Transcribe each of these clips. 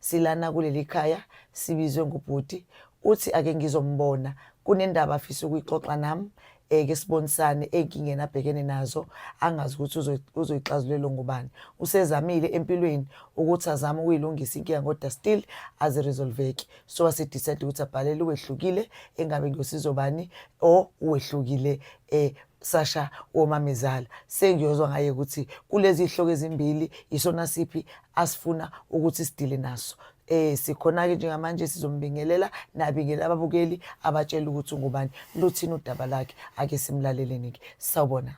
Silana kuleli khaya sibizwe ngubhuti uthi ake ngizombona kunendaba afisa ukuyixoxa nami um ke sibonisane ey'nkingeni abhekene nazo angazi ukuthi uzoyixazulelwa ngubani usezamile empilweni ukuthi azame ukuyilungisa inkinga kodwa still aziresolveki so wasedicide ukuthi abhalele uwehlukile engabe ngiyosizo bani or uwehlukile um sasha womamezala sengiyozwa ngaye ukuthi kulezi hloko ezimbili isona siphi asifuna ukuthi sidile naso eh sikhona-ke njengamanje sizombingelela nabingele ababukeli abatshela ukuthi ungubani luthini udaba lakhe ake simlaleleni-ke sawubona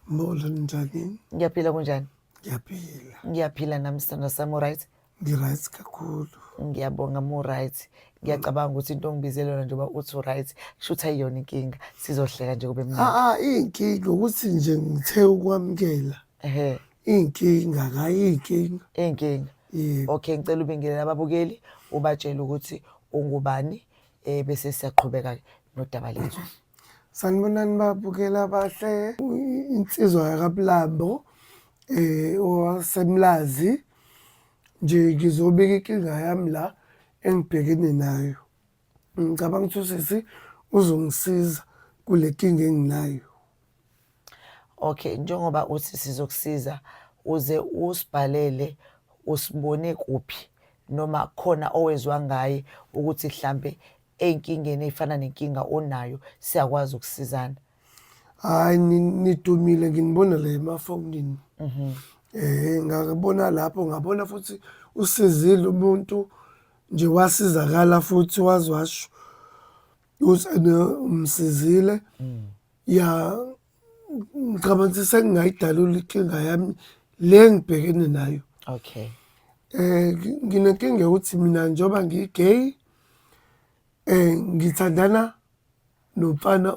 molo njani ngiyaphila kunjani ngiyaphila ngiyaphila nami sithanda sami uright ngi-right kakhulu ngiyabonga mu-right ngiyacabanga ukuthi into ongibizele yona njengoba uthi u-right kusho ukuthi ayiyona inkinga sizohleka nje kube mnaa ah, ah, iyinkinga ukuthi nje ngithe ukwamukela Iy'nkinga ngayo iy'nkinga. Iy'nkinga. Yebo. Okay ngicela ubingelele ababukeli ubatshele ukuthi ungubani eh bese siyaqhubeka-ke nodaba lethu. Sanibonani babukeli abahle. I- Insizwa yakaBulambo eh owaseMlazi nje ngizobika inkinga yami la engibhekene nayo. ngicabanga ukuthi usisi uzongisiza kule kinga enginayo okay njengoba uthi sizokusiza uze usibhalele usibone kuphi noma khona owezwa ngaye ukuthi mhlambe enkingeni efana nenkinga onayo siyakwazi ukusizana hayi nidumile nginibona la emafonini mhm. eh ngakubona lapho ngabona futhi usizile umuntu nje wasizakala futhi waze washo usane umsizile mm. ya ngicabanga ukuthi sengingayidalula inkinga yami le engibhekene nayo okay eh nginenkinga yokuthi mina njengoba ngigay Eh ngithandana nomfana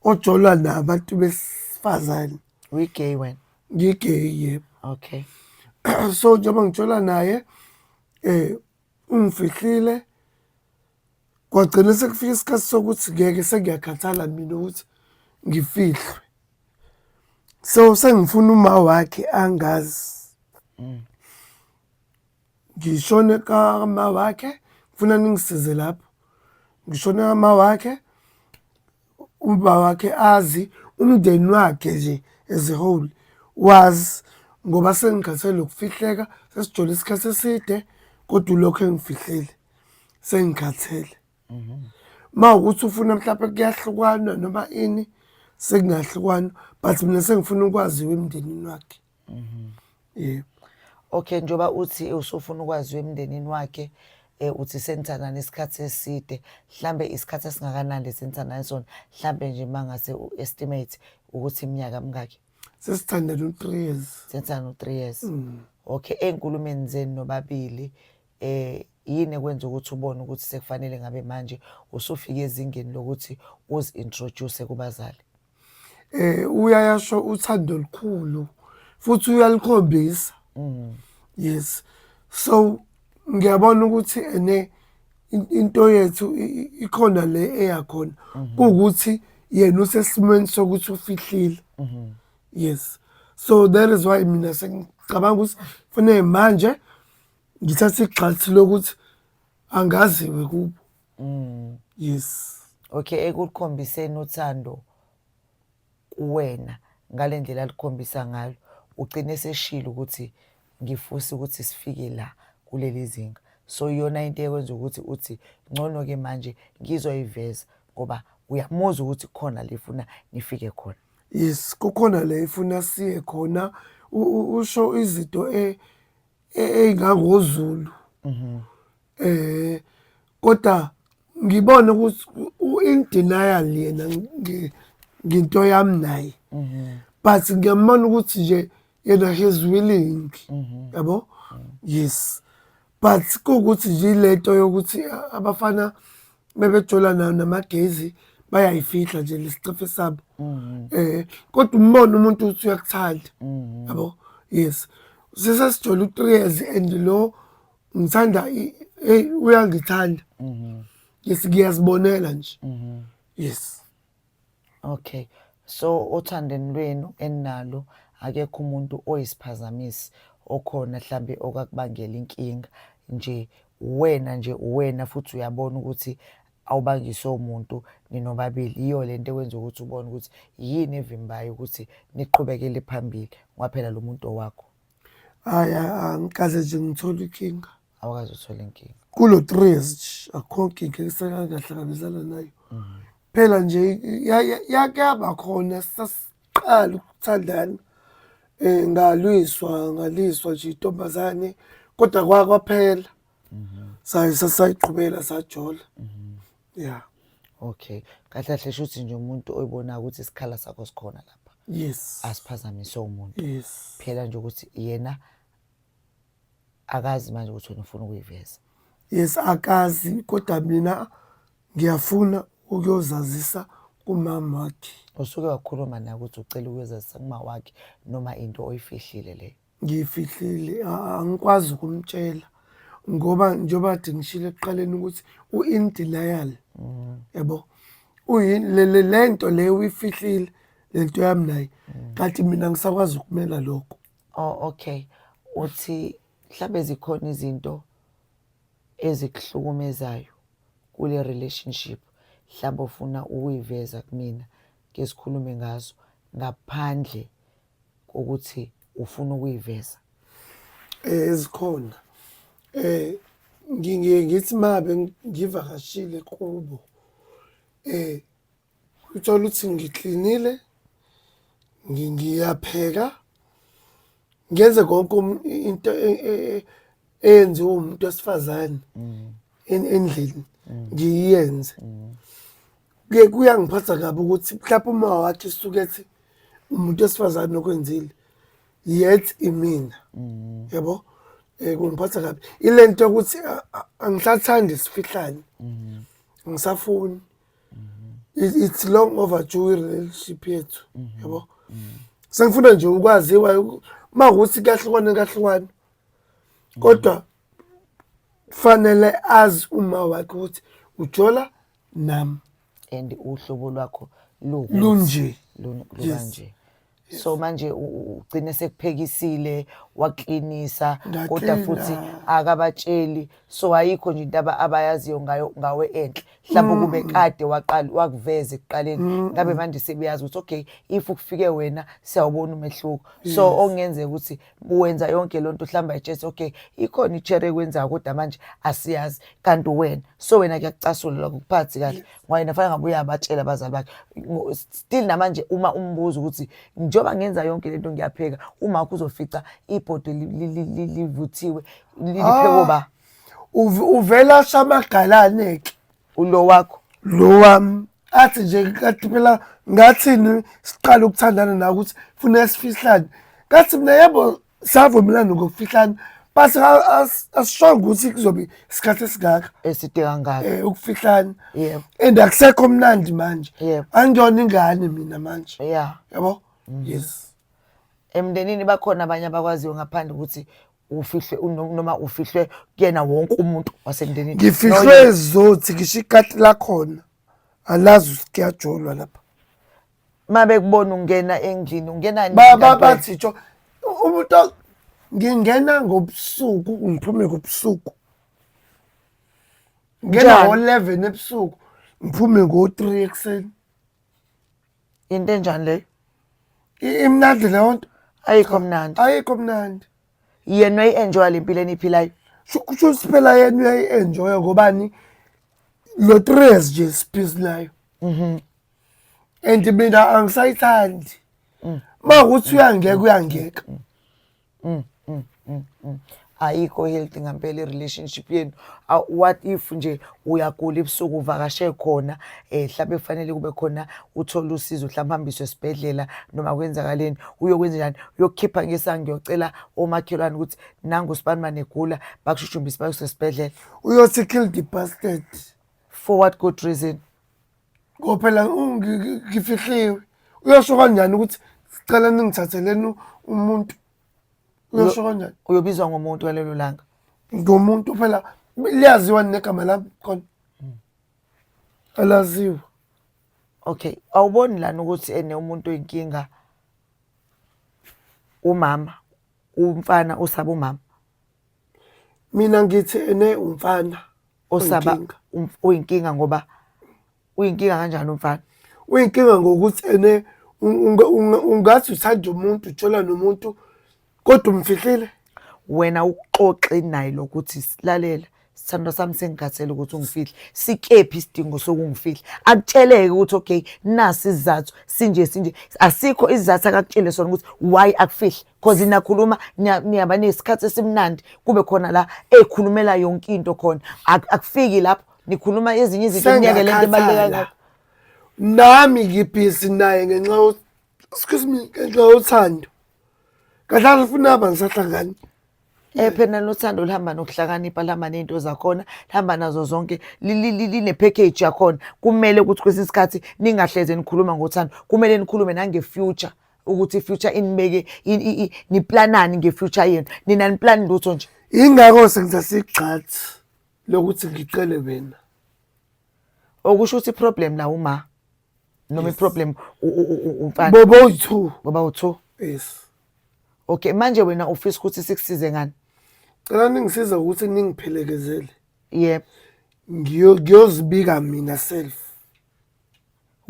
ojolwa nabantu besifazane. We gay wena. Ngi gay yebo. Okay. so njengoba ngijola naye eh ungifihlile kwagcina sekufika isikhathi sokuthi ngeke sengiyakhathala mina ukuthi ngifihlwe so sengifuna uma wakhe angazi mm. ngishone kama wakhe ngifuna ningisize lapho ngishone kama wakhe uba wakhe azi umndeni wakhe nje as a whole wazi ngoba sengikhathele nokufihleka sesijole isikhathi eside kodwa ulokhu engifihlile sengikhathele mhm. ma ukuthi ufuna mhlawumpe kuyahlukwana noma ini sekungahlukwana but mina sengifuna ukwaziwa emndenini wakhe Mhm. Yebo. Okay njoba uthi usufuna ukwazi emndenini wakhe eh uthi senithandana isikhathi eside mhlambe isikhathi esingakanani lesenthandana sona mhlambe nje mangase uestimate ukuthi iminyaka mingaki sesithandana u3 years senthandana u3 years mm. okay enkulumeni zenu nobabili eh yini ekwenza ukuthi ubone ukuthi sekufanele ngabe manje usufike ezingeni lokuthi uzi introduce kubazali um uyayasho uthando olukhulu futhi uyalikhombisa mm. yes so ngiyabona ukuthi ene into yethu ikhona le eyakhona mhm. kuwukuthi yena usesimweni sokuthi ufihlile mhm. yes so that is why mina sengicabanga ukuthi fanele manje ngithathe igxathi lokuthi angaziwe kubo mm. yes okay ekukhombiseni uthando kuwena ngale ndlela alikhombisa ngalo ugcine seshilo ukuthi ngifuse ukuthi sifike la kuleli zinga so iyona into ekwenza ukuthi uthi ngcono ke manje ngizoyiveza ngoba uyamuzwa ukuthi khona lifuna nifike khona yes kukhona le ifuna siye khona usho izinto e e-, eyingangoZulu mhm. eh kodwa ngibone ukuthi in denial yena nginto yami naye mhm. but ngiyambona ukuthi nje yena he's willing mhm. yabo yes but kuwukuthi nje lento yokuthi abafana bebejula nayo namagezi bayayifihla nje lesicefe sabo mm-hmm. eh kodwa umbona umuntu uthi uyakuthanda mm-hmm. yabo yes sise sijole u3 years and lo ngithanda hey uyangithanda mm-hmm. yes ngiyazibonela nje yes Okay. So othandeni lwenu enalo akekho umuntu oyisiphazamisi okhona mhlambe okakubangela inkinga nje wena nje wena futhi uyabona ukuthi awubangise umuntu ninobabili yiyo le nto ekwenza ukuthi ubone ukuthi yini evimbayo ukuthi niqhubekele phambili ngoba phela lo muntu owakho Hhayi, a- angikaze nje ngithole inkinga. awukaze uthole inkinga kulo tres akho nkinga esekangahlanganizana nayo mm. phela nje yake yaba khona sasiqala ukuthandana eh ngalwiswa ngaliswa nje intombazane kodwa kwakwaphela mhm. saye sasayiqhubela sajola mhm. yeah okay kahle kahle shuthi nje umuntu oyibona ukuthi isikhala sakho sikhona lapha yes asiphazamiswe umuntu yes phela nje ukuthi yena akazi manje ukuthi wena ufuna ukuyiveza yes akazi kodwa mina ngiyafuna ukuyozazisa kumama wakhe usuke wakhuluma naye ukuthi ucela ukuyozazisa kumama wakhe noma into oyifihlile leyo ngiyifihlile angikwazi ukumtshela ngoba njengoba kade ngishilo ekuqaleni ukuthi u-in denial mm. yabo mm. lento leyo uyifihlile lento yami naye kanti mina ngisakwazi ukumela lokho Oh okay. Uthi mhlambe zikhona izinto ezikuhlukumezayo kule relationship mhlambe ufuna ukuyiveza kumina ke sikhulume ngazo ngaphandle kokuthi ufuna ukuyiveza. Eh ezikhona. Eh ngiye ngithi mabe ngivakashile kubo eh Uthola ukuthi ngiklinile, ngiyapheka, ngenze konke um, into e, e, e, eyenziwa umuntu wesifazane mm. endlini mm. ngiyenze. Mm. Kuye kuyangiphatha kabi ukuthi mhlawumbe uma wakhe suke ethi umuntu wesifazane okwenzile yet imina. Yebo? Mm. Eh, kungiphatha kabi ile nto yokuthi angisathandi sifihlane angisafuni It's, it's long overdue relationship yethu. Yabo. Sengifuna nje ukwaziwa uku- uma ukuthi kuyahlukana kuyahlukana. Kodwa fanele azi uma wakhe ukuthi ujola nam and uhlobo lwakho lukuthi lunje. lun- Yes. lukanje so manje u- u- ugcine sekuphekisile waklinisa kodwa Ngaklina. futhi akabatsheli so ayikho nje into aba- abayaziyo ngayo ngawe enhle mhlawumbe Mm. kube kade waqala wakuveza ekuqaleni ngabe manje sebeyazi ukuthi okay if kufike wena siyawubona umehluko so okungenzeka ukuthi wenza yonke loo nto uhlamba ichest okay ikhona itshere ekwenzayo kodwa manje asiyazi kanti wena so wena kuyakucasula lokho kuphathi kahle ngoba yena fanele ngabe uyabatshela abazali bakhe still namanje uma umbuza ukuthi njengoba ngenza yonke le nto ngiyapheka umakho uzofica ibhodo livuthiwe liphekwe ba ah, uvela shamagalane-ke ulo wakho lo wami athi nje kathi phela ngathini siqala ukuthandana nawe ukuthi funeka sifihlane kathi mina yebo savumelana ngokufihlana but asishonga ukuthi kuzobe isikhathi esingaka eside kangaka um eh, ukufihlana yebo and akusekho mnandi manje yebo angiyona ingane mina manje ya yabo mm. yes emndenini bakhona abanye abakwaziyo ngaphandle ukuthi ufihlwe uno- noma ufihlwe kuyena wonke umuntu wasemndenini ngifihlwe zothi ngisho ikati lakhona alazi ukuthi kuyajolwa lapha uma bekubona ungena endlini ungena nini Ba- ba- kanti wena? bathi tsho u- umuntu o- ngingena ngobusuku ngiphume ngobusuku ngena Njani? ngo-eleven ebusuku ngiphume ngo-three ekuseni Into enjani leyo? I- imnandi leyo nto Ayikho mnandi. ayikho mnandi Yena uyayi-enjoya le mpilo eniyiphilayo. Sho- kusho ukuthi phela yena uyayi-enjoya ngobani lo tres nje siphisi nayo and mina angisayithandi ma ukuthi uyangeka uyangeka mm, mm, mm, mm. ayikho healthy ngempela i-relationship yenu Ah, what if nje uyagula ebusuku uvakashe khona um hlampe kufanele kube khona uthole usizo hlampe hambiswe esibhedlela noma kwenzakaleni uyokwenza njani uyokukhipha ngesanga ngiyocela omakhelwane ukuthi nangu sibani manegula bakushushumbise bakuse esibhedlela uyothi kill the bastard for what good reason Ngoba phela ngifihliwe. Uyosho kanjani ukuthi sicela ningithatheleni umuntu? Uyosho kanjani? Uyobizwa ngomuntu ngalelo langa. Ngomuntu phela liyaziwa negama lami khona. Hmm. Alaziwa. Okay, awuboni lana ukuthi ene umuntu oyinkinga umama, umfana usaba umama. mina ngithi ene umfana osaba oyinkinga. um- uyinkinga ngoba uyinkinga kanjani umfana uyinkinga ngokuthi ene un- unga- unga- ungathi uthanda umuntu uthola nomuntu kodwa umfihlile wena uxoxe naye lokuthi silalela sithandwa sami sengikhathele ukuthi ungifihle sikephi isidingo sokungifihla akutsheleke ukuthi okay nasi isizathu sinje sinje asikho isizathu akakutshele sona ukuthi why akufihle cause nakhuluma niyaba nesikhathi esimnandi kube khona la ekhulumela yonke into khona akufiki lapho nikhuluma ezinye izinto kunyeke lento ebaluleka nami ngibhizi naye ngenxa excuse me ngenxa yothando kahlala ufuna aba ngisahlangani Eh phela nothando lihamba nokuhlakanipha lihamba nezinto zakhona lihamba nazo zonke line package yakhona kumele ukuthi kwesinye isikhathi ningahleze nikhuluma ngothando kumele nikhulume nange future ukuthi future inibeke niplanani ngefuture yenu nina niplani lutho nje ingakho sengiza sigxathi lokuthi ngicele wena okusho ukuthi problem la uma noma iproblem umfana bobo uyi-two boba u-two yes okay manje wena ufisa ukuthi sikusize ngani cela ningisize ukuthi ningiphelekezele yebo ngiyozibika mina self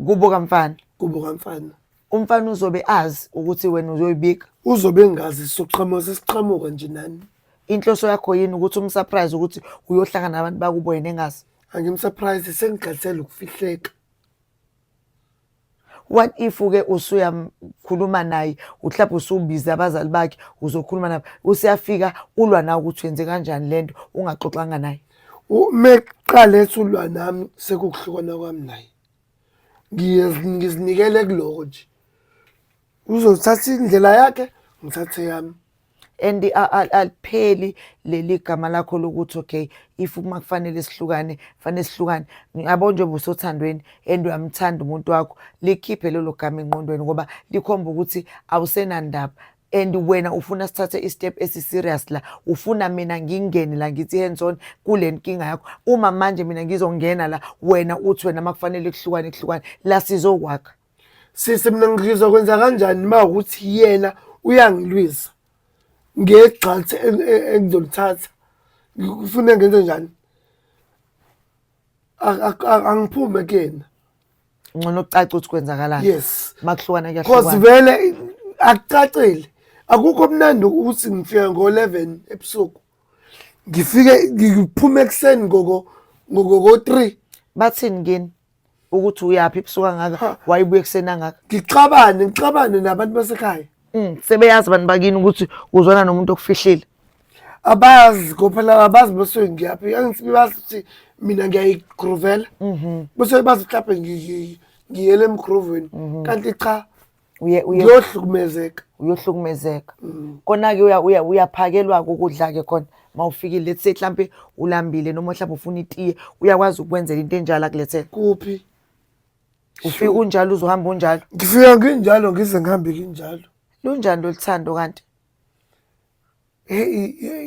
kubo kamfana kubo kamfana umfana uzobe azi ukuthi wena uzoyibika uzobe engazi soqhamuka sesiqhamuka nje nani inhloso yakho yini ukuthi umsurprise ukuthi uyohlangana nabantu bakubo yena engazi angimsurprise sengigadisela ukufihleka what if uke usuyamkhuluma naye uhlaphe usubiza abazali bakhe uzokhuluma nabo usiyafika ulwa nawe ukuthi wenze kanjani lento ungaxoxanga naye uma kuqala esulwa nami sekukuhlukana kwami naye ngizinikele kuloko nje uzothatha indlela yakhe ngithathe yami and alipheli leli gama lakho lokuthi okay if uma kufanele sihlukane fanele sihlukane ngiyabo njengoba usothandweni and uyamthanda umuntu wakho likhiphe lelo gama enqondweni ngoba likhomba ukuthi awusenandaba and wena ufuna sithathe istep esiserious la ufuna mina ngingene la ngithi hands on kule nkinga yakho uma manje mina ngizongena la wena uthi wena makufanele kuhlukane kuhlukane la sizokwakha sisi mina ngizwa kwenza kanjani ma ukuthi yena uyangilwisa ngegxathi engizolithatha ngifuna ngenze njani angiphume kuyena ngcono ucace ukuthi kwenzakalani yes makuhlukana kuyahlukana cause vele akucacile akukho mnandi ukuthi ngifika ngo-11 ebusuku ngifike ngiphume ekuseni ngoko-three bathini kini ukuthi uyaphi ebusuku angaka wayibuya ekuseni angaka ngixabane ngixabane nabantu basekhaya Mm, sebeyazi abantu bakini ukuthi uzwana nomuntu okufihlile. Abazi kophela abazi bese ngiyaphi. Angisibi bazi ukuthi mina ngiyayigroovela. Mhm. Bese bazi mhlawumbe ngi- ngiyele emgrooveni. Mhm. Kanti cha Uye uye ngiyohlukumezeka. uyohlukumezeka. Mm. Kona-ke uya- uya- uyaphakelwa-ke ukudla-ke khona uma ufikile. Let's say mhlampe ulambile noma mhlawumbe ufuna itiye, uyakwazi ukukwenzela into enjalo akulethele. Kuphi? ufika unjalo uzohamba unjalo ngifika nginjalo ngize ngihambe kinjalo lunjani loluthando kanti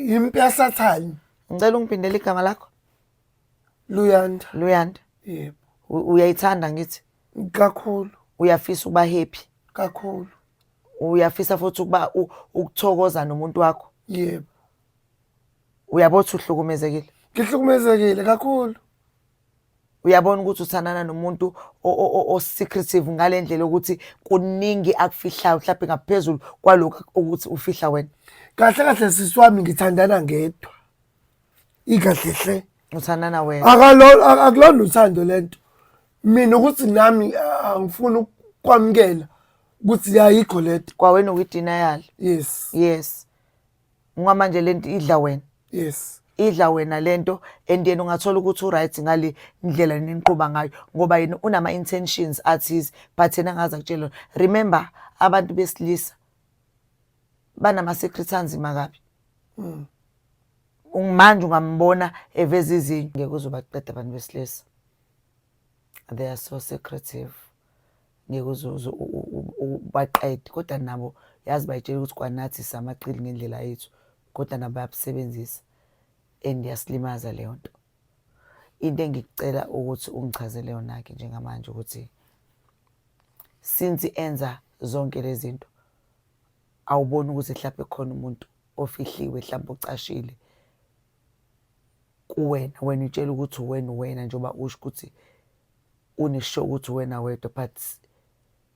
yimpi yasathane ngicela ungiphindele igama lakho luyanda luyanda yebo uyayithanda ngithi kakhulu uyafisa ukuba happy kakhulu uyafisa futhi ukuba ukuthokoza nomuntu wakho yebo uyabona ukuthi uhlukumezekile ngihlukumezekile kakhulu uyabona ukuthi uthandana nomuntu o-secretive ngale ndlela yokuthi kuningi akufihlayo mhlawumbe ngaphezulu kwalokhu ukuthi ufihla wena kahle kahle sisi wami ngithandana ngedwa ikahle hle uthandana wena akulona uthando le nto mina ukuthi nami angifuni ukwamukela ukuthi yayikho le nto kwawena uyidinayali yes yes ngoba manje lento idla wena yes idla wena lento and yena ungathola ukuthi uright ngale ndlela niniqhuba ngayo ngoba yena unama intentions athize but yena ngaza kutshela remember abantu besilisa banama secrets anzima kabi mm. manje ungambona eveza izinyo ngeke uzobaqeda abantu besilisa they are so secretive ngeke uzoze ubaqede kodwa nabo yazi bayitshela ukuthi kwanathi samaqili ngendlela yethu kodwa nabo bayabusebenzisa and yasilimaza leyo nto into engikucela ukuthi ungichazele yona-ke njengamanje ukuthi since enza zonke lezi zinto awuboni ukuthi mhlawumbe khona umuntu ofihliwe mhlawumbe ocashile kuwena wena utshela ukuthi uwena uwena njengoba usho ukuthi unesho ukuthi wena wedwa but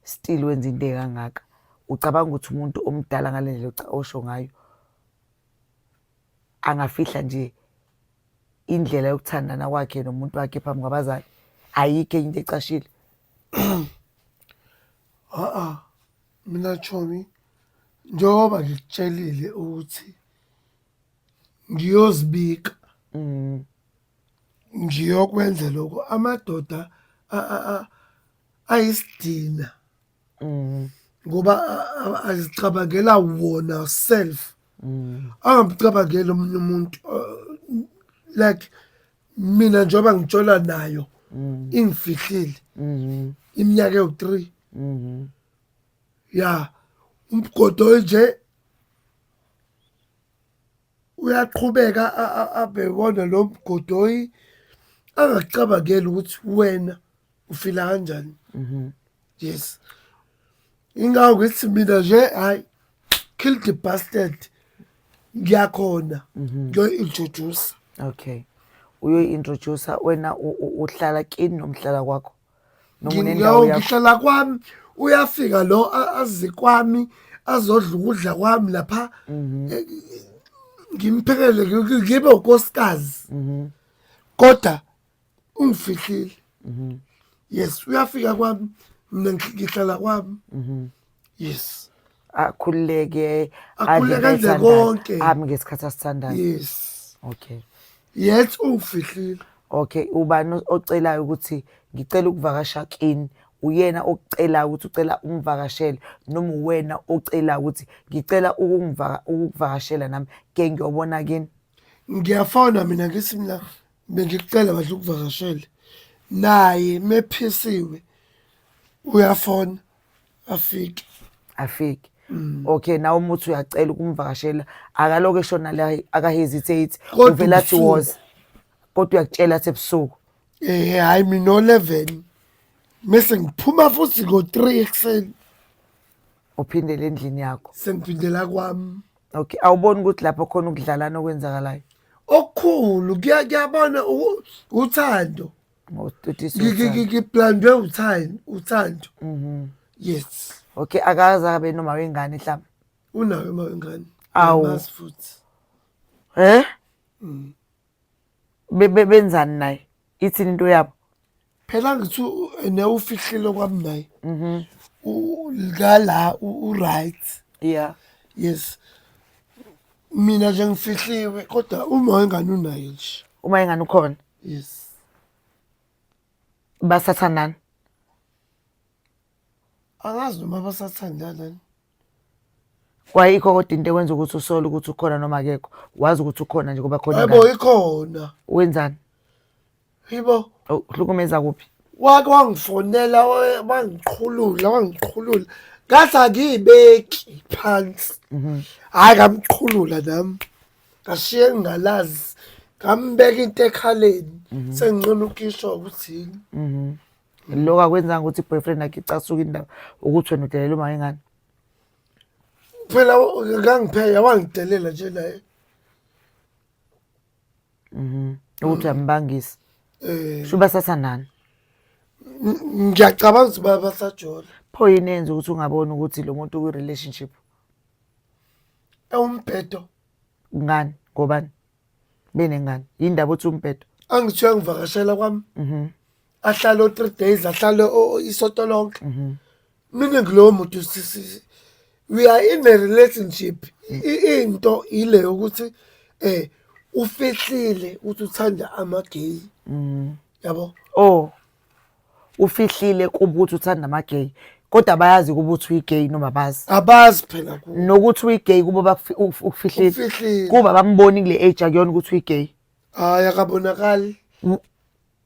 still wenza into ekangaka ucabanga ukuthi umuntu omdala ngale ndlela osho ngayo angafihla nje indlela yokuthandana kwakhe nomuntu wakhe phambi kwabazali ayikho enye into ecashile a-a mina chomi njengoba ngikutshelile ukuthi ngiyozibika mm. ngiyokwenza lokho amadoda ayisidina mm. ngoba azicabangela wona self mm. angabicabangeli omunye umuntu like mina njengoba ngitshola nayo mm. ingifihlile mm-hmm. iminyaka ewu-three mm-hmm. ya umgodo nje uyaqhubeka abhekona lo mgodoyi angakucabangeli ukuthi wena ufila kanjani mhm. yes ingawo ngithi mina nje hayi kill the bastard ngiyakhona mhm. ngiyoyi-introduce okay uyoyi-introducer wena uhlala kini nomhlala kwakho noma Ngi- unendawo yo, yakho ngihlala kwami uyafika lo a- azi kwami azodla ukudla kwami lapha Mhm. Eh, ngimphekele ngi- ngi- ngibe ukosikazi Mhm. kodwa ungifihlile Mhm. yes uyafika kwami mina ngi- ngihlala kwami Mhm. yes akhululeke Akhululeke adle enze ayithandayo, konke. ami ngesikhathi asithandayo yes okay yet uwufihlile okay ubani o- ocelayo ukuthi ngicela ukuvakasha kini uyena okucelayo ukuthi ucela umvakashele noma uwena ocelayo ukuthi ngicela ukungivaka- ukukuvakashela nami ke ngiyobona kini ngiyafona mina ngithi mina bengikucela badla ukuvakashele naye mephisiwe uyafona afike afike mm. okay nawe umuthi uyacela ukumvakashela akaloke eshona la akahesitate uvela athi was kodwa uyakutshela athi ebusuku eh hayi mina 11 mese ngiphuma futhi ngo 3 ekseni uphindele endlini yakho sengiphindela kwami okay awuboni ukuthi lapho khona ukudlalana okwenzakalayo okukhulu kuyabona uthando ngiblandwe uthando uthando mhm. yes okay akaze abe noma wengane mhlawumbe unayo uma wengane awu futhi eh mm. bebe benzani naye ithini into yabo phela ngithi ne ufihlile kwami naye mhm ngala u right yeah yes mina nje ngifihliwe kodwa uma wengane unayo nje uma ingane ukhona yes basathandana angazi noma basathandana ni kwayikho kodwa into ekwenza ukuthi usole ukuthi ukhona noma akekho wazi ukuthi ukhona nje ngoba khona yebo ingane. ikhona wenzani yibo Oh, uhlukumeza kuphi wake wangifonela wa- wangiqhulula wangiqhulula ngathi angiyibeki phansi hhayi ngamqhulula nami ngashiye ngingalazi ngambeka into ekhaleni mhm. senginqona ukishwa ukuthi yini mhm. lokho akwenzanga ukuthi i-boyfriend yakhe icasuke indaba ukuthi wena udelela uma ingane phela kangipheka wangidelela nje naye mhm. ukuthi uyambangisa eh. sho basathandana ngiyacabanga ukuthi basajola pho yini enza ukuthi ungaboni ukuthi lo muntu ukwi-relationship ewumbhedo ngani ngobani benengane yindaba othi umbhedo angithiwa ngivakashela kwami mhm. ahlale o-three days ahlale isoto lonke mhm. mina ngilowo muntu we are in a relationship into ile yokuthi um ufihlile ukuthi uthanda amageyi mhm. yabo o oh. ufihlile kuba ukuthi uthanda ama-gay kodwa bayazi kuba ukuthi uyi-gay noma bazi abazi phela ku nokuthi uyi-gay kuba bakufi- uf- ukufihlile ufihlile kuba bamboni kule age akuyona ukuthi uyi-gay hayi akabonakali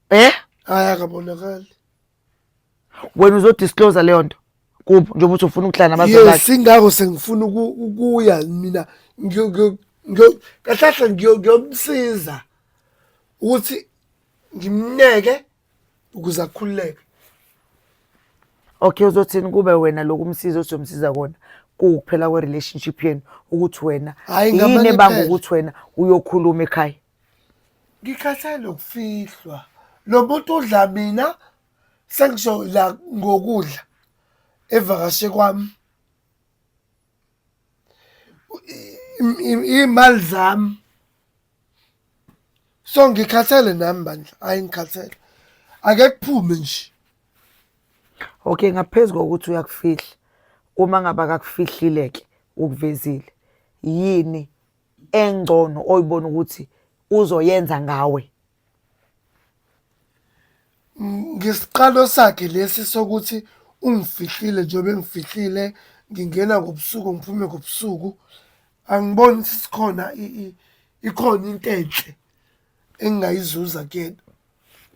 eh hayi akabonakali wena uzodisclose leyo nto kubo njengoba uthi ufuna ukuhlala nabazali yes bakhe ingakho sengifuna uku- ukuya mina ngiyo- ngiyo- ngiyo- kahlahla ngiyo- ngiyomsiza ukuthi ngimneke ukuze akhululeke okay uzothini kube wena lokumsiza osomsiza kona kuphela kwe relationship yenu ukuthi wena yini ebanga ukuthi wena uyokhuluma ekhaya ngikhathele ukufihlwa lo muntu udla mina sengisho la ngokudla evakashe kwami imali zami so ngikhathele nami bandla hayi ngikhathele ake kuphume nje okay ngaphezu kokuthi uyakufihla uma ngaba kakufihlile ke ukuvezile yini engcono oyibona ukuthi uzoyenza ngawe Ngesiqalo sakhe lesi sokuthi ungifihlile njengoba engifihlile ngingena ngobusuku ngiphume ngobusuku, angiboni ukuthi sikhona ikhona into enhle engingayizuza kuyena.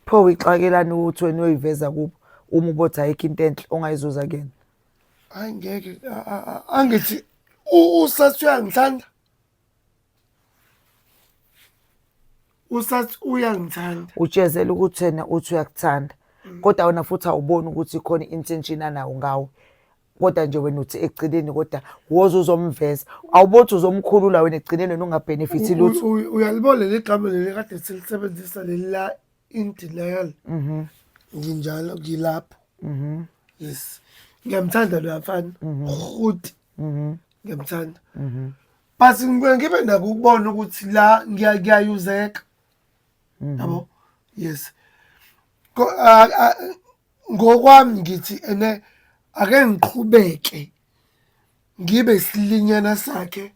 Pho uyixakelani ukuthi wena uyoyiveza kubo uma ubothi ayikho into enhle ongayizuza kuyena? Hayi ngeke angithi usathi uyangithanda usathi uyangithanda utshezela ukuthi yena uthi uyakuthanda mm. kodwa wena futhi awuboni ukuthi khona intention anawo ngawe kodwa nje wena uthi ekugcineni kodwa woze uzomveza awubothi uzomkhulula wena ekugcineni wena ungabenefit lutho uyalibona leli gama leli kade silisebenzisa leli la in denial mhm nginjalo ngilapho mhm yes ngiyamthanda lo mfana mhm. futhi mhm ngiyamthanda mhm but ngibuye ngibe nako ukubona ukuthi la ngiyayuzeka mhm. yabo yes ngokwami ngithi ene ake ngiqhubeke ngibe silinyana sakhe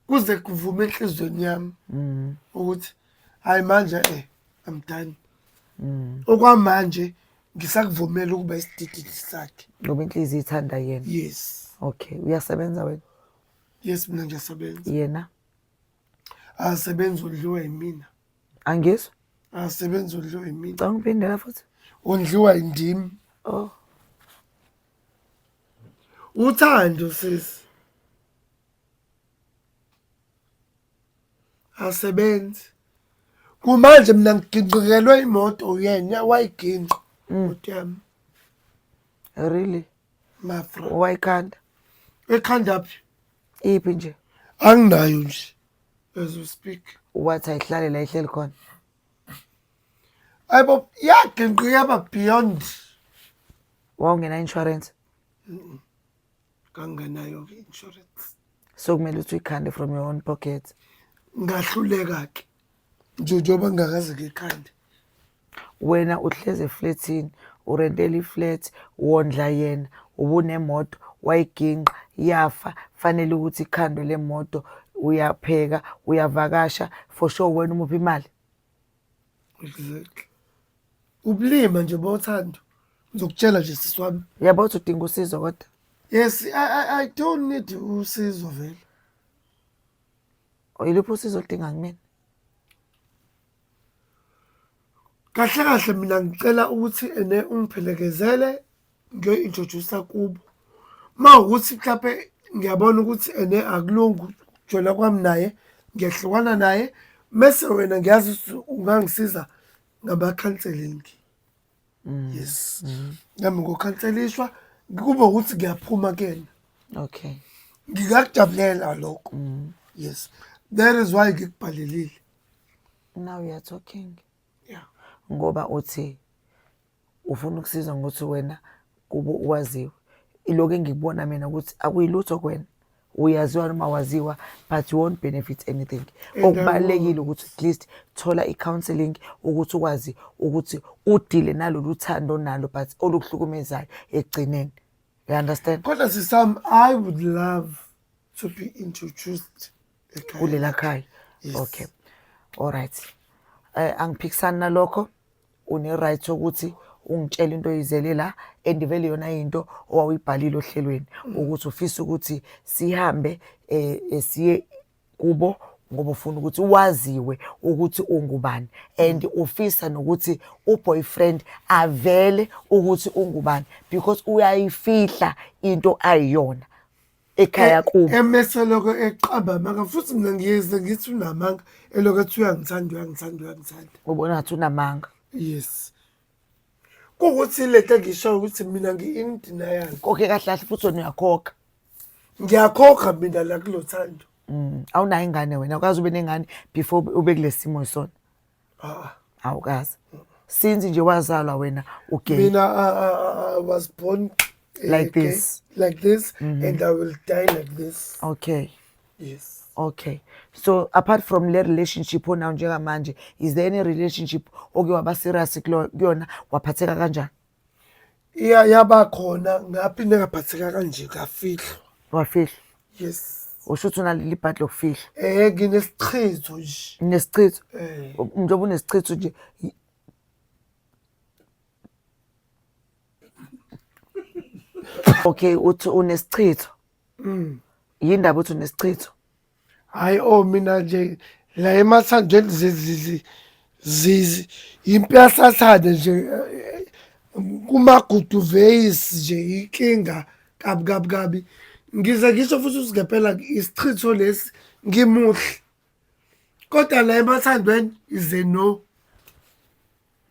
kuze kuvume enhlizweni yami mm. ukuthi hayi manje eh I'm done mm. okwamanje ngisakuvumela ukuba isidididi sakhe ngoba inhliziyo ithanda yena yes okay uyasebenza wena yes mina ngiyasebenza yena asebenza udliwa yimina angizwa asebenza udliwa yimina canga uphindela futhi undliwa yindim oh uthando sisi asebenzi kumanje mina ngiginqikelwe imoto uyena wayiginqa mm. imoto yami really mafra wayikhanda ekhanda phi iphi nje anginayo nje as we speak wathi ayihlale la ihleli khona ayibo yaginqika yaba beyond wawungena insurance kanganayo-ke insurance so kumele ukuthi uyikhande from your own pocket ngahluleka-ke nje njengoba ngingakaze-ke ekhande wena uhlezi efletini urentela iflat wondla yena ubunemoto wayiginqa yafa fanele ukuthi ikhandwe le moto uyapheka uyavakasha for sure wena umuphi imali Exactly. Ubulima nje bothando. Ngizokutshela nje sisi wami. Yabo uthi udinga usizo kodwa. Yes, I, I, I don't need usizo vele. Oyiliphi usizo oludinga kumina? Kahle kahle mina ngicela ukuthi ene ungiphelekezele ngiyoyi-introduce-a kubo uma ukuthi mhlawumpe ngiyabona ukuthi ene akulungi ukujwela kwami naye ngiyahlukana naye mese wena ngiyazi ukuthi ungangisiza ngama-counseling mm, yes mm. nami ngokhanselishwa kube ukuthi ngiyaphuma kuyena okay ngikakujabulela lokho mm. yes that is why ngikubhalelile now you are talking yeah ngoba uthi ufuna ukusizwa ngokuthi wena kubo waziwe ilokhu engikubona mina ukuthi akuyilutho kwena uyaziwa noma waziwa but you won't benefit anything okubalulekile ukuthi at least thola i-counseling ukuthi ukwazi ukuthi udile nalolu thando onalo but olukuhlukumezayo ekugcineni you understand kodwa sisam i would love to be introduced kulela khaya okay all right um angiphikisani nalokho une-right sokuthi ungitshela into oyizele la and vele yona into owawuyibhalile ohlelweni ukuthi ufisa ukuthi sihambe um siye kubo ngoba ufuna ukuthi waziwe ukuthi ungubani and ufisa nokuthi uboyfriend avele ukuthi ungubani because uyayifihla into ayiyona ekhaya kubo emese lokho eqamba amanga futhi mina ngiyeze ngithi unamanga elokho ethi uyangithanda uyangithanda uyangithanda ubona ngathi unamanga yes kuwukuthi le nto engisho ukuthi mina ngi-indenial koke kahle kahle futhi wena uyakhokha ngiyakhokha mina la kulo thando mm, awunayo ingane wena ukwazi ube nengane before ube kule simo sona Ah, awukazi since nje wazalwa wena ugay mina I, ah, I, ah, ah, I was born eh, Like gay, this. Mm-hmm. like this and i will die like this okay yes okay so apart from le relationship onayo njengamanje is there any relationship oke waba serious kulo- kuyona waphatheka kanjani iya yaba khona ngaphinde ngaphatheka kanje ngafihlwa wafihlwa yes usho ukuthi unaleli ibhadi lokufihlwa eh nginesichitho nje nesichitho eh njengoba unesichitho nje y- okay uthi unesichitho mm yindaba uthi unesichitho Hayi o oh, mina nje la emathandweni impyahlathane nje kumagudu veis nje inkinga kabi kabi kabi ngize ngisho futhi usigepela isichitho lesi ngimuhle kodwa la emathandweni ize no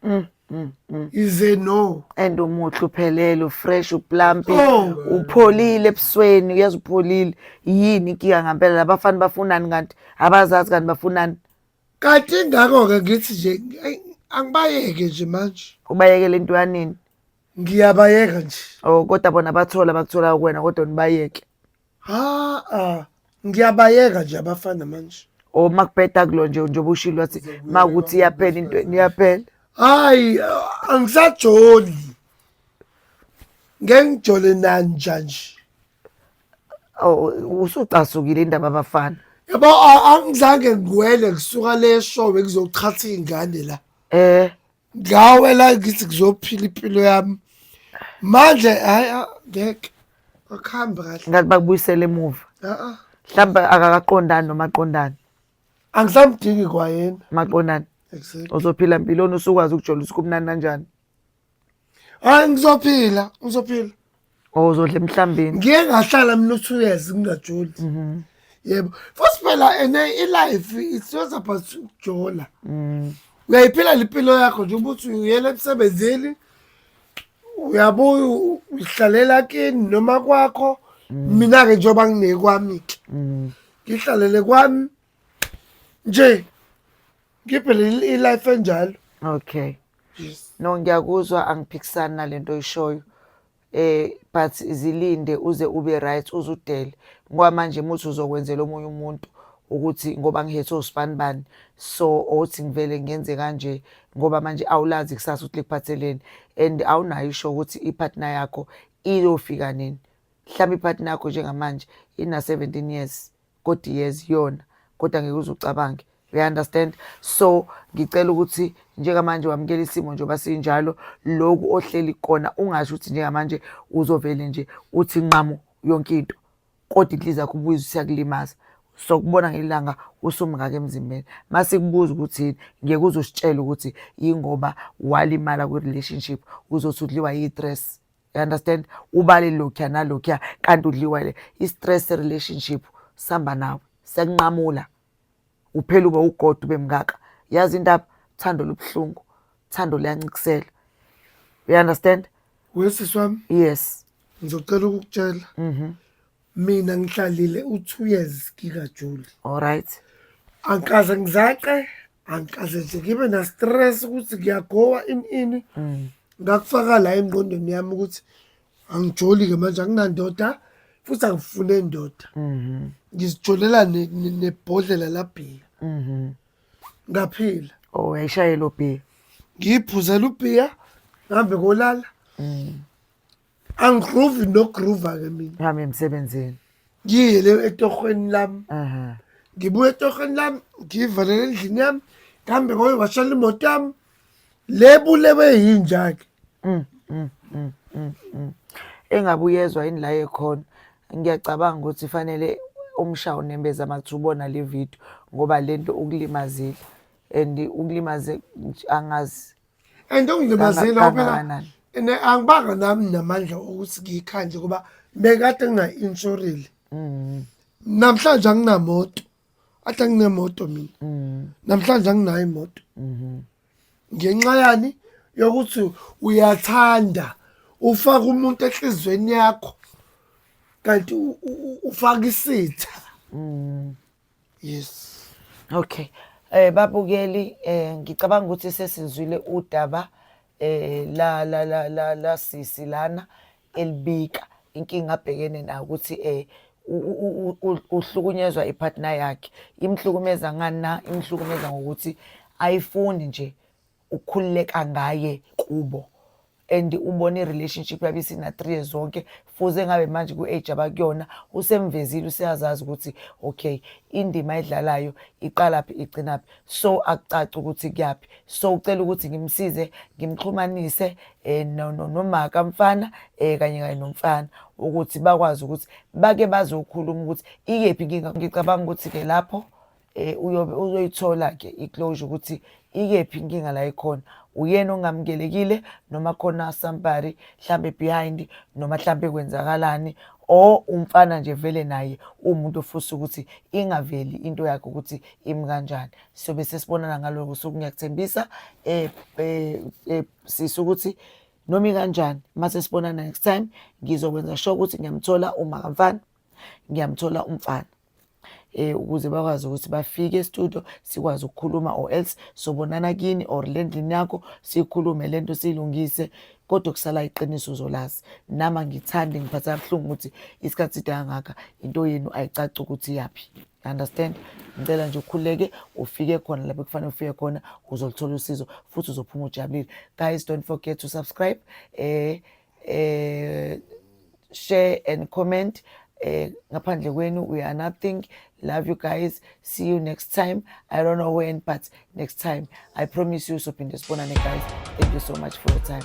Mm, mm, mm. is a no and umuhle uphelele ufresh uplampi Oh. upholile ebusweni uyazi upholile yini inkinga ngampela labafana bafunani kanti abazazi kanti bafunani kanti ingakho-ke ngithi nje ay, angibayeke nje manje ubayekele into yanini ngiyabayeka nje o kodwa bona bathola bakutholayo kuwena kodwa nibayeke ha-a ngiyabayeka nje abafana manje or makubheda kulo nje njengoba ushilo wathi makuthi iyaphela into iyaphela hayi ah, angisajoli ngeke ngijole nanja nje Oh, usucasukile indaba abafana yabo a- angizange ngiwele ngisuka le show bekuzochathwa iy'ngane la eh ngawe la ngithi ngizophila impilo yami manje hayi ah, ngeke akuhambi kahle ngathi bakubuyisele emuva a-a mhlawumbe akakaqondani noma aqondani angisamdingi kwayena maqondani exactly uzophila mpiloni usukwazi ukujolisa ukuthi kumnandi kanjani hayi ngizophila ngizophila or uzodla emhlambeni ngiye ngahlala mina u-two years ngingajoli mhm. yebo futhi phela and i-life it's not about ukujola mm. uyayiphila limpilo yakho nje ukuthi uyela emsebenzini uyabuya uhlalela kini noma kwakho mm. mina-ke njengoba nginekwami-ke mm. ngihlalele kwami nje ngiphe i-life enjalo okay yes. no ngiyakuzwa angiphikisani nalento oyishoyo eh but zilinde uze ube right uzudele ngoba manje muthi uzokwenzela omunye umuntu ukuthi ngoba ngihethwe usibani bani so othi ngivele ngenze kanje ngoba manje awulazi kusasa ukuthi likuphatheleni and awunayo isho ukuthi ipartner yakho iyofika nini mhlawumbe ipartner yakho njengamanje ina 17 years kodwa iyeza iyona kodwa ngeke uze ucabange you understand so ngicela ukuthi njengamanje wamukela isimo njengoba sinjalo loku ohleli kona ungasho ukuthi njengamanje uzovele nje uthi nqamu yonke into kodwa inhliziyo yakho ubuyiza usiyakulimaza sokubona ngelanga usumngaka emzimbeni masikubuza ukuthi yini ngeke uzositshela ukuthi yingoba walimala kwi-relationship uzothi udliwa yi-dress you understand ubale lokhuya nalokhuya kanti udliwa le i-stress relationship sihamba nawe sekunqamula uphela ube ugoda ube mngaka yazi indaba uthando lubuhlungu uthando luyanciksela you understand wesisi wami yes ngizocela ukukutshela mm -hmm. mina ngihlalile u-two years ngikajuli alright angikaze ngizace angikaze nje ngibe na-stress ukuthi ngiyagowa ini ini mm. ngakufaka la engqondweni yami ukuthi angijoli-ke manje anginandoda futhi angifune ndoda mhm. ngizijolela nebhodlela labhiya mhm. ngaphila o oh, yayishayela ubhiya ngiyiphuzela ubhiya ngihambe kolala mm. angigroove nogroova ke mina ngihamba emsebenzini ngiye le etohweni lami ngibuye etohweni lami ngiyivalele endlini yami ngihambe ngoye washela imoto yami le bulewe yinja ke mm, mm, mm, engabe uyezwa yini la ekhona ngiyacabanga ukuthi fanele umsha unembeza makuthi ubona le video ngoba lento ukulimazile and ukulimaze angazi and ongilibazile Sana- phela kangakanani? ne angibanga nami namandla okuthi ngiyikhanje ngoba bekade ngingayi-inshorile Mm, namhlanje anginamoto athi anginemoto mina mm, namhlanje anginayo imoto mhm. ngenxa yani yokuthi uyathanda ufaka umuntu enhliziyweni yakho kanti u- u- u- ufaka isitha Mm. yes okay eh babukeli eh ngicabanga ukuthi sesizwile udaba eh la la la la, la sisi lana elibika inkinga abhekene nayo ukuthi eh uhlukunyezwa ipartner yakhe imhlukumeza ngani na imhlukumeza ngokuthi ayifuni nje ukhululeka ngaye kubo and ubona i-relationship yabe isina-three years zonke fuze ngabe manje ku-age abakuyona usemvezile useyazazi ukuthi okay indima edlalayo iqalaphi igcinaphi so akucaci ukuthi kuyaphi so ucela ukuthi ngimsize ngimxhumanise um nomaka mfana um kanye kanye nomfana ukuthi bakwazi ukuthi bake bazokhuluma ukuthi iyephi inkinga ngicabanga ukuthi-ke lapho eh uyobe uzoyithola ke iclosure ukuthi ikephi inkinga la ikhona uyena ongamukelekile noma khona somebody mhlambe behind noma mhlambe kwenzakalani or umfana nje vele naye umuntu ofusa ukuthi ingaveli into yakhe ukuthi imi kanjani so bese sibonana ngaloko so ngiyakuthembisa eh, eh, eh sisi ukuthi noma ikanjani mase sibonana next time ngizokwenza sure ukuthi ngiyamthola uma kamfana ngiyamthola umfana eh ukuze bakwazi ukuthi bafike estudio sikwazi ukukhuluma or else sobonana kini or le ndlini yakho sikhulume lento silungise kodwa kusala iqiniso uzolazi nama ngithande ngiphatha kabuhlungu ukuthi isikhathi side kangaka into yenu ayicaci ukuthi yaphi understand ngicela nje ukhuleke ufike khona lapho kufanele ufike khona uzolithola usizo futhi uzophuma ujabulile guys don't forget to subscribe eh eh share and comment eh ngaphandle kwenu we are nothing love you guys see you next time i don't know when but next time i promise you sophinde sibonane guys thank you so much for your time